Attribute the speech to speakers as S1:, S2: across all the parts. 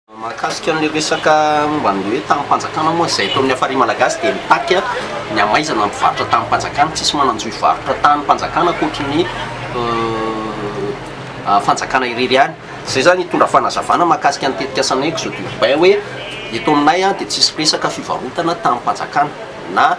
S1: Mahakasika an'ilay resaka momba an'ilay hoe tamim-panjakana moa izay eto amin'ny Hafari Malagasy dia mitaky ny hamaizana ny mpivarotra tamim-panjakana. Tsisy manan-jo hivarotra tamim-panjakana ankoatry ny fanjakana irery ihany. Izay izany hitondra fanazavana mahakasika ny tetikasan'ny Exode urbain hoe eto aminay dia tsisy resaka fivarotana tamim-panjakana na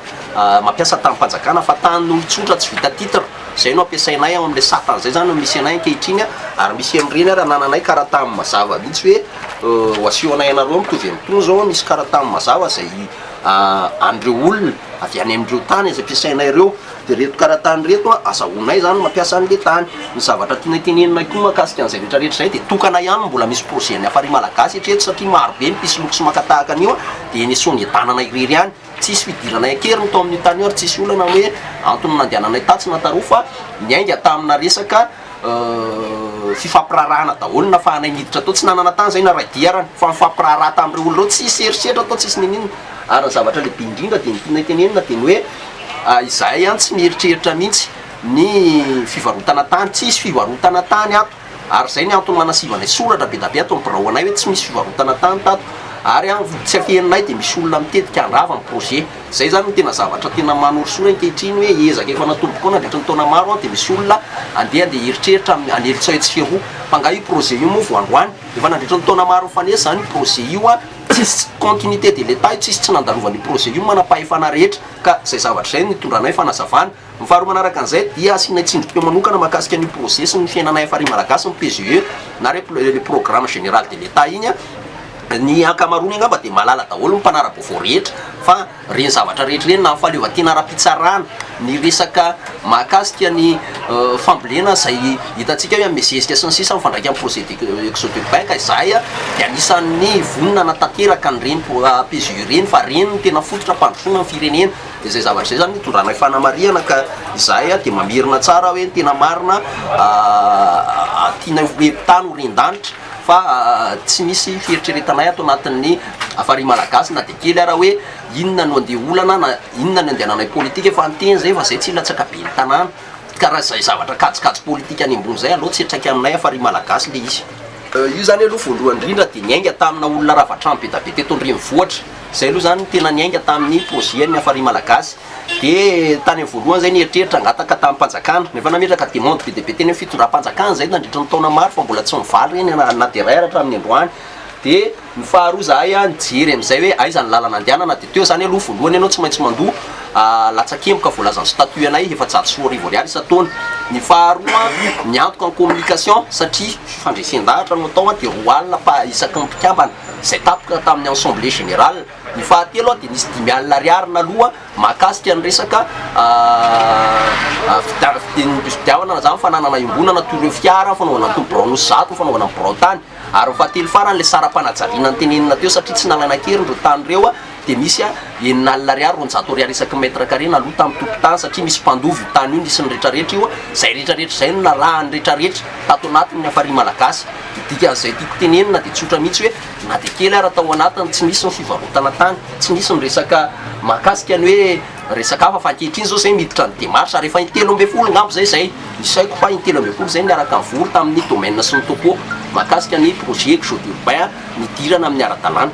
S1: mampiasa tamim-panjakana fa tanin'olon-tsotra tsy vita titre. Izay no ampiasainay ao amin'ilay sata, izay izany no misy anay ankehitriny ary misy an'ireny ary anananay karatany mazava mihitsy hoe ho asehonay anareo mitovy amin'itony izao an, misy karatany mazava izay an'ireo olona avy any amin'ireo tany izay ampiasainay ireo, dia ireto karatany ireto an, azahoanay izany ny mampiasa an'ilay tany. Ny zavatra tianay teneninay koa mahakasika an'izay rehetra rehetra izay dia tokana ihany no mbola misy projet-n'ny Hafari Malagasy hatreto satria marobe ny mpisoloky sy maka tahaka an'io an, dia ny Sony Edanana irery ihany. Tsisy fidiranay an-keriny tao amin'io tany io ary tsisy olana hoe antony nandehananay tatsy na taroa fa niainga tamina resaka fifampiraharahana daholo ny nafahanay niditra tao. Tsy nanana tany izahay na raidiarana fa nifampiraharaha tamin'ireo olona ireo. Tsisy herisetra tao, tsisy n'inon'inona ary ny zavatra lehibe indrindra dia ny tianay tenenina dia ny hoe izahay tsy mieritreritra mihitsy ny fivarotana tany. Tsisy fivarotana tany ato. Ary izay ny antony nanasivanay soratra be da be ato ny birao anay hoe tsy misy fivarotana tany tato ary an tsy afeninay dia misy olona mitetika handrava ny projet izay izany no tena zavatra tena manorisory ankehitriny hoe ezaka efa natombokao nandritra ny taona maro an dia misy olona andeha andeha hieritreritra amin'ny anelitsao etsy sy eroa fa nga io projet io moa vao androany efa nandritra ny taona maro mifanesy izany io projet io an tsisy continuité de l'Etat io tsisy tsy nandalovan'io projet io ny manam-pahefana rehetra ka izay zavatra izay no nitondranay fanazavana Ny faharoa manaraka an'izay dia asianay tsindrim-peo manokana mahakasika an'io projet sy ny fiainanay FRI Malagasy ny PGE na re le programme général de l'Etat iny a, ny ankamaroany angamba dia mahalala daholo ny mpanara-baovao rehetra fa reny zavatra rehetra reny na ny fahaleovantena ara-pitsarana, ny resaka mahakasika ny fambolena izay hitantsika hoe amin'ny zezika sy ny sisa mifandraika amin'ny projet de exode urbain ka izahay a dia anisan'ny vonona hanatanteraka an'ireny PGE ireny fa reny no tena fototra hampandrosoana ny firenena. Dia izay zavatra izay izany itondranay fanamarihana ka izahay dia mamerina tsara hoe ny tena marina tianay ho mpitany ho ren-danitra fa tsy misy fieritreretanay ato anatin'ny Farihy Malagasy na dia kely ara hoe inona no andeha olana na inona ny andehananay politika fa ny teny izay efa izay tsy hilatsaka ben'ny tanàna ka raha izay zavatra kajikajy politika any ambony izay aleo tsy hiantraika aminay Farihy Malagasy ilay izy. Io izany aloha voalohany indrindra dia niainga tamina olona rava-trano be dia be teto an-drenivohitra. Zay aloha zany tena niainga tamin'ny projet ny Hafari Malagasy de tany amin'ny voalohany zay ny eritreritra hangataka tamim-panjakana nefa nametraka demande be dia be teny amin'ny fitondram-panjakana zay nandritra ny taona maro fa mbola tsy nivaly reny na na dia iray ary hatramin'ny androany de ny faharoa zahay a nijery amin'izay hoe aiza ny lalana andehanana de teo zany aloha voalohany ianao tsy maintsy mandoa a latsakemboka voalazan'ny statut anay efajato sy roa arivo ariary isan-taona ny faharoa miantoka ny communication satria fandresen-dahatra no atao a de roa alina pa isaky ny mpikambana izay tapoka tamin'ny Assemblée Générale. Ny fahatelo dia nisy dimy alina ariary naloa mahakasika ny resaka fidiavana na zany fananana iombonana toy ireo fiara fanaovana toa birao nosy zato fanaovana ny birao tany ary ny fahatelo farany ilay saram-panajariana notenenina teo satria tsy nalaina an-keriny ireo tany ireo dia misy a enina alina ariary roanjato ariary isaky mètre carré na lota amin'ny tompon-tany satria misy mpandova io tany io nisy ny rehetra rehetra io a izay rehetra rehetra izay no narahan'ny rehetra rehetra tato anatiny ny hafarian' malagasy dia dikan'izay tiako tenenina dia tsotra mihitsy hoe na dia kely ara tao anatiny tsy nisy ny fivarotana tany tsy nisy ny resaka mahakasika ny hoe resaka hafa fa ankehitriny izao izay miditra ny démarche ary efa in-telo ambin'ny folo angamba izay izay isaiko fa in-telo ambin'ny folo izay niaraka nivory tamin'ny domaine sy ny topo mahakasika ny projet exode urbain nidirana amin'ny ara-dalàna.